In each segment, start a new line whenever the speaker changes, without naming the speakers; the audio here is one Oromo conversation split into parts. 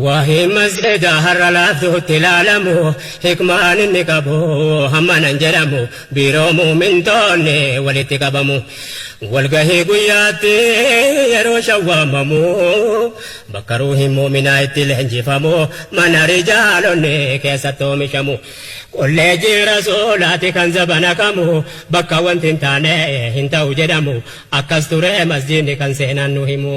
Waa'ee masjidaa har'a laaftuutti ilaalamu hikmaan inni qabu hammana hin jedhamu biiroo muumintoonni walitti qabamu walgahii guyyaatti yeroo shawwaamamu bakka ruuhi muuminaa itti leenjifamu mana rijaalonni keessatti oomishamu kolleejii rasuulaati kan zabana kamu bakka wanti hin taane hin ta'u jedhamu akkas ture masjiinni kan seenaan nu himu.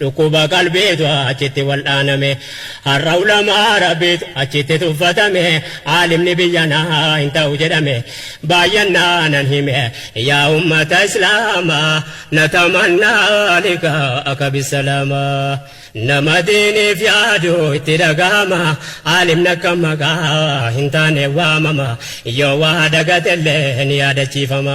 Dhukkuba qalbiitu achitti wal'aaname. Har'a ulamaa Rabbiitu achitti tuffatame. Aalimni biyyanaa hin ta'u jedhame. Baayyannaanan hime yaa ummata Islaamaa. Natamannaa liqaa'aka bissalaamaa. Nama diiniif yaadu itti dhagahama. Aalimni akka maqaa hin taane waamama. Yoo waa dagatellee ni yaadachiifama.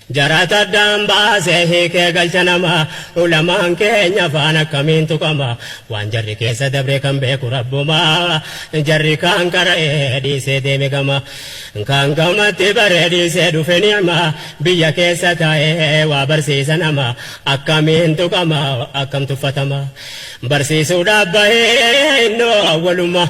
Jarata addaan baasee hiikee galcha nama Ulamaan keenya afaan akkamiin tuqama Waan jarri keessa dabre kan beeku rabbuma Jarri kaan qara'ee dhiisee deeme gama Kaan gamatti baree dhiisee dhufe ni'ma Biyya keessa taa'ee waa barsiisa nama Akkamiin tuqama akkam tuffatama Barsiisuudhaaf bahee innoo awwaluma